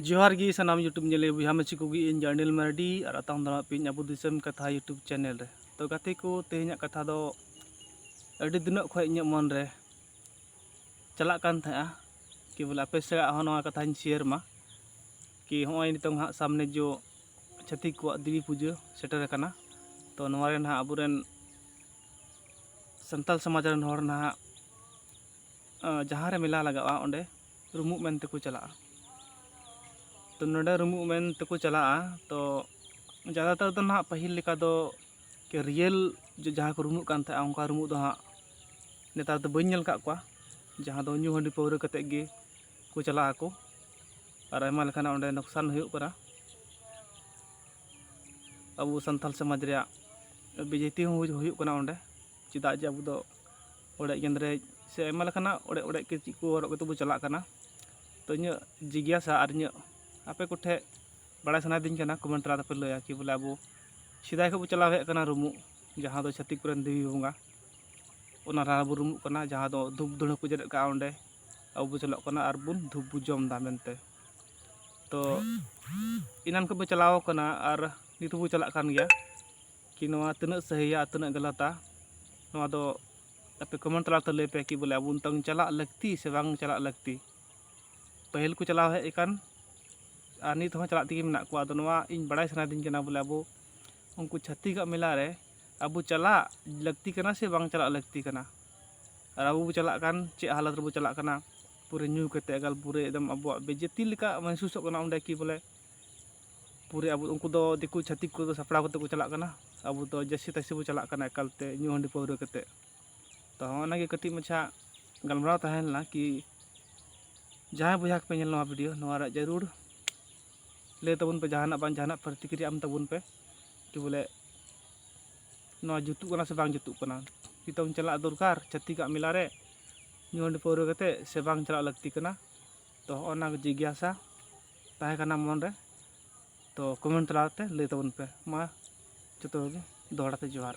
ᱡᱚᱦᱟᱨ ᱜᱮ ᱥᱟᱱᱟᱢ ᱭᱩᱴᱩᱵᱽ ᱧᱮᱞᱮ ᱵᱚᱭᱦᱟ ᱢᱟᱹᱪᱷᱤ ᱠᱚᱜᱮ ᱤᱧ ᱡᱟᱨᱱᱤᱞ ᱢᱟᱨᱰᱤ ᱟᱨ ᱟᱛᱟᱝ ᱫᱟᱨᱟᱢ ᱯᱤᱧ ᱟᱵᱚ ᱫᱤᱥᱚᱢ ᱠᱟᱛᱷᱟ ᱭᱩᱴᱩᱵᱽ ᱪᱮᱱᱮᱞ ᱨᱮ ᱛᱚ ᱜᱟᱛᱮ ᱠᱚ ᱛᱮᱦᱮᱧᱟᱜ ᱠᱟᱛᱷᱟ ᱫᱚ ᱟᱹᱰᱤ ᱫᱤᱱᱚᱜ ᱠᱷᱚᱱ ᱤᱧᱟᱹᱜ ᱢᱚᱱ ᱨᱮ ᱪᱟᱞᱟᱜ ᱠᱟᱱ ᱛᱟᱦᱮᱸᱜᱼᱟ ᱠᱤ ᱵᱚᱞᱮ ᱟᱯᱮ ᱥᱟᱞᱟᱜ ᱦᱚᱸ ᱱᱚᱣᱟ ᱠᱟᱛᱷᱟᱧ ᱥᱮᱭᱟᱨ ᱢᱟ ᱠᱤ ᱦᱚᱸᱜᱼᱚᱭ ᱱᱤᱛᱚᱝ ᱦᱟᱸᱜ ᱥᱟᱢᱱᱮ ᱡᱚ ᱪᱷᱟᱹᱛᱤᱠ ᱠᱚᱣᱟᱜ ᱫᱮᱵᱤ ᱯᱩᱡᱟᱹ ᱥᱮᱴᱮᱨ ᱟᱠᱟᱱᱟ ᱛᱚ ᱱᱚᱣᱟ ᱨᱮ ᱱᱟᱦᱟᱜ ᱟᱵᱚᱨᱮᱱ ᱥᱟᱱᱛᱟᱞ ᱥᱚᱢᱟᱡᱽ ᱨᱮᱱ ᱦᱚᱲ ᱱᱟᱦᱟᱜ ᱡᱟᱦᱟᱸ ᱨᱮ ᱢᱮᱞᱟ ᱞᱟᱜᱟᱜᱼᱟ ᱚᱸᱰᱮ ᱨᱩᱢᱩᱜ ᱢᱮᱱ ᱛᱮᱠᱚ ᱪᱟᱞᱟᱜᱼᱟ ᱛᱚ ᱱᱚᱰᱮ ᱨᱩᱢᱩᱜ ᱢᱮᱱ ᱛᱮᱠᱚ ᱪᱟᱞᱟᱜᱼᱟ ᱛᱚ ᱡᱟᱫᱟᱛᱚᱨ ᱫᱚ ᱱᱟᱦᱟᱜ ᱯᱟᱹᱦᱤᱞ ᱞᱮᱠᱟ ᱫᱚ ᱨᱤᱭᱮᱞ ᱡᱟᱦᱟᱸ ᱠᱚ ᱨᱩᱢᱩᱜ ᱠᱟᱱ ᱛᱟᱦᱮᱸᱜᱼᱟ ᱚᱱᱠᱟ ᱨᱩᱢᱩᱜ ᱫᱚ ᱦᱟᱸᱜ ᱱᱮᱛᱟᱨ ᱫᱚ ᱵᱟᱹᱧ ᱧᱮᱞ ᱟᱠᱟᱫ ᱠᱚᱣᱟ ᱡᱟᱦᱟᱸ ᱫᱚ ᱧᱩ ᱦᱟᱺᱰᱤ ᱯᱟᱹᱣᱨᱟᱹ ᱠᱟᱛᱮᱫ ᱜᱮ ᱠᱚ ᱪᱟᱞᱟᱜ ᱟᱠᱚ ᱟᱨ ᱟᱭᱢᱟ ᱞᱮᱠᱟᱱᱟᱜ ᱚᱸᱰᱮ ᱞᱚᱠᱥᱟᱱ ᱦᱩᱭᱩᱜ ᱠᱟᱱᱟ ᱟᱵᱚ ᱥᱟᱱᱛᱟᱲ ᱥᱚᱢᱟᱡᱽ ᱨᱮᱭᱟᱜ ᱵᱮᱡᱟᱹᱛᱤ ᱦᱚᱸ ᱦᱩᱭᱩᱜ ᱠᱟᱱᱟ ᱚᱸᱰᱮ ᱪᱮᱫᱟᱜ ᱡᱮ ᱟᱵᱚ ᱫᱚ ᱚᱲᱮᱡ ᱜᱮᱸᱫᱽᱨᱮᱡ ᱥᱮ ᱟᱭᱢᱟ ᱞᱮᱠᱟᱱᱟᱜ ᱚᱲᱮᱡ ᱚᱲᱮᱡ ᱠᱤᱪᱨᱤᱡ ᱠᱚ ᱦᱚᱨᱚᱜ ᱠᱟᱛᱮᱫ ᱵᱚᱱ ᱪᱟᱞᱟᱜ ᱠᱟᱱᱟ ᱛᱚ ᱤᱧᱟᱹᱜ ᱡᱤᱜᱽᱜᱟᱥᱟ ᱟᱨ ᱤᱧᱟᱹᱜ ᱟᱯᱮ ᱠᱚᱴᱷᱮᱱ ᱵᱟᱲᱟᱭ ᱥᱟᱱᱟᱭᱮᱫᱤᱧ ᱠᱟᱱᱟ ᱠᱚᱢᱮᱱᱴ ᱛᱟᱞᱟ ᱛᱮᱯᱮ ᱞᱟᱹᱭᱟ ᱠᱤ ᱵᱚᱞᱮ ᱟᱵᱚ ᱥᱮᱫᱟᱭ ᱠᱷᱚᱱ ᱵᱚᱱ ᱪᱟᱞᱟᱣ ᱦᱮᱡ ᱟᱠᱟᱱᱟ ᱨᱩᱢᱩᱜ ᱡᱟᱦᱟᱸ ᱫᱚ ᱪᱷᱟᱹᱛᱤᱠ ᱠᱚᱨᱮᱱ ᱫᱮᱵᱤ ᱵᱚᱸᱜᱟ ᱚᱱᱟ ᱨᱮᱦᱚᱸ ᱵᱚᱱ ᱨᱩᱢᱩᱜ ᱠᱟᱱᱟ ᱡᱟᱦᱟᱸ ᱫᱚ ᱫᱷᱩᱯ ᱫᱷᱩᱬᱟᱹ ᱠᱚ ᱡᱮᱨᱮᱫ ᱠᱟᱜᱼᱟ ᱚᱸᱰᱮ ᱟᱵᱚ ᱵᱚᱱ ᱥᱮᱱᱚᱜ ᱠᱟᱱᱟ ᱟᱨ ᱵᱚᱱ ᱫᱷᱩᱯ ᱵᱚᱱ ᱡᱚᱢ ᱮᱫᱟ ᱢᱮᱱᱛᱮ ᱛᱚ ᱮᱱᱟᱱ ᱠᱷᱚᱱ ᱵᱚᱱ ᱪᱟᱞᱟᱣ ᱟᱠᱟᱱᱟ ᱟᱨ ᱱᱤᱛ ᱦᱚᱸᱵᱚᱱ ᱪᱟᱞᱟᱜ ᱠᱟᱱ ᱜᱮᱭᱟ ᱠᱤ ᱱᱚᱣᱟ ᱛᱤᱱᱟᱹᱜ ᱥᱟᱹᱦᱤᱭᱟ ᱟᱨ ᱛᱤᱱᱟᱹᱜ ᱜᱟᱞᱟᱛᱟ ᱱᱚᱣᱟ ᱫᱚ ᱟᱯᱮ ᱠᱚᱢᱮᱱᱴ ᱛᱟᱞᱟ ᱛᱮ ᱞᱟᱹᱭ ᱯᱮ ᱠᱤ ᱵᱚᱞᱮ ᱟᱵᱚ ᱱᱤᱛᱚᱝ ᱪᱟᱞᱟᱜ ᱞᱟᱹᱠᱛᱤ ᱥᱮ ᱵᱟᱝ ᱪᱟᱞᱟᱜ ᱞᱟᱹᱠᱛᱤ ᱯᱟᱹᱦᱤᱞ ᱠᱚ ᱪᱟᱞᱟᱣ ᱦᱮᱡ ᱟᱠᱟᱱ ᱟᱨ ᱱᱤᱛ ᱦᱚᱸ ᱪᱟᱞᱟᱜ ᱛᱮᱜᱮ ᱢᱮᱱᱟᱜ ᱠᱚᱣᱟ ᱟᱫᱚ ᱱᱚᱣᱟ ᱤᱧ ᱵᱟᱲᱟᱭ ᱥᱟᱱᱟᱭᱮᱫᱤᱧ ᱠᱟᱱᱟ ᱵᱚᱞᱮ ᱟᱵᱚ ᱩᱱᱠᱩ ᱪᱷᱟᱹᱛᱤᱠᱟᱜ ᱢᱮᱞᱟ ᱨᱮ ᱟᱵᱚ ᱪᱟᱞᱟᱜ ᱞᱟᱹᱠᱛᱤ ᱠᱟᱱᱟ ᱥᱮ ᱵᱟᱝ ᱪᱟᱞᱟᱜ ᱞᱟᱹᱠᱛᱤ ᱠᱟᱱᱟ ᱟᱨ ᱟᱵᱚ ᱵᱚ ᱪᱟᱞᱟᱜ ᱠᱟᱱ ᱪᱮᱫ ᱦᱟᱞᱚᱛ ᱨᱮᱵᱚ ᱪᱟᱞᱟᱜ ᱠᱟᱱᱟ ᱯᱩᱨᱟᱹ ᱧᱩ ᱠᱟᱛᱮᱫ ᱮᱠᱟᱞ ᱯᱩᱨᱟᱹ ᱮᱠᱫᱚᱢ ᱟᱵᱚᱣᱟᱜ ᱵᱮᱼᱤᱡᱽᱡᱚᱛᱤ ᱞᱮᱠᱟ ᱢᱟᱹᱦᱥᱩᱥᱚᱜ ᱠᱟᱱᱟ ᱚᱸᱰᱮ ᱠᱤ ᱵᱚᱞᱮ ᱯᱩᱨᱟᱹ ᱟᱵᱚ ᱩᱱᱠᱩ ᱫᱚ ᱫᱤᱠᱩ ᱪᱷᱟᱹᱛᱤᱠ ᱠᱚᱫᱚ ᱥᱟᱯᱲᱟᱣ ᱠᱟᱛᱮ ᱠᱚ ᱪᱟᱞᱟᱜ ᱠᱟᱱᱟ ᱟᱵᱚ ᱫᱚ ᱡᱟᱹᱥᱛᱤ ᱛᱟᱹᱥᱤ ᱵᱚ ᱪᱟᱞᱟᱜ ᱠᱟᱱᱟ ᱮᱠᱟᱞ ᱛᱮ ᱧᱩ ᱦᱟᱺᱰᱤ ᱯᱟᱹᱣᱨᱟᱹ ᱠᱟᱛᱮ ᱛᱚ ᱦᱚᱸᱜᱼᱚ ᱱᱟ ᱜᱮ ᱠᱟᱹᱴᱤᱡ ᱢᱟᱪᱷᱟ ᱜᱟᱞᱢᱟᱨᱟᱣ ᱛᱟᱦᱮᱸ ᱞᱮᱱᱟ ᱠᱤ ᱡᱟᱦᱟᱸᱭ ᱵᱚᱭᱦᱟ ᱠᱚᱯᱮ ᱧᱮᱞ ᱱᱚᱣᱟ ᱵᱷᱤᱰᱤᱭᱳ ᱱᱚᱣᱟ ᱨᱮᱭᱟᱜ ᱡᱟᱹᱨᱩᱲ ᱞᱟᱹᱭ ᱛᱟᱵᱚᱱ ᱯᱮ ᱡᱟᱦᱟᱱᱟᱜ ᱵᱟᱝ ᱡᱟᱦᱟᱱᱟᱜ ᱯᱨᱚᱛᱤᱠᱨᱤᱭᱟ ᱮᱢ ᱛᱟᱵᱚᱱ ᱯᱮ ᱠᱤ ᱵᱚᱞᱮ ᱱᱚᱣᱟ ᱡᱩᱛᱩᱜ ᱠᱟᱱᱟ ᱥᱮ ᱵᱟᱝ ᱡᱩᱛᱩᱜ ᱠᱟᱱᱟ ᱱᱤᱛᱚᱝ ᱪᱟᱞᱟᱜ ᱫᱚᱨᱠᱟᱨ ᱪᱷᱟᱹᱛᱤᱠᱟᱜ ᱢᱮᱞᱟ ᱨᱮ ᱧᱩ ᱦᱟᱺᱰᱤ ᱯᱟᱹᱣᱨᱟᱹ ᱠᱟᱛᱮ ᱥᱮ ᱵᱟᱝ ᱪᱟᱞᱟᱜ ᱞᱟᱹᱠᱛᱤ ᱠᱟᱱᱟ ᱛᱚ ᱦᱚᱸᱜᱼᱚ ᱱᱟ ᱡᱤᱜᱽᱜᱟᱥᱟ ᱛᱟᱦᱮᱸ ᱠᱟᱱᱟ ᱢᱚᱱ ᱨᱮ ᱛᱚ ᱠᱚᱢᱮᱱᱴ ᱛᱟᱞᱟᱛᱮ ᱞᱟᱹᱭ ᱛᱟᱵᱚᱱ ᱯᱮ ᱢᱟ ᱡᱚᱛᱚ ᱦᱚᱲ ᱜᱮ ᱫᱚᱦᱲᱟ ᱛᱮ ᱡᱚᱦᱟᱨ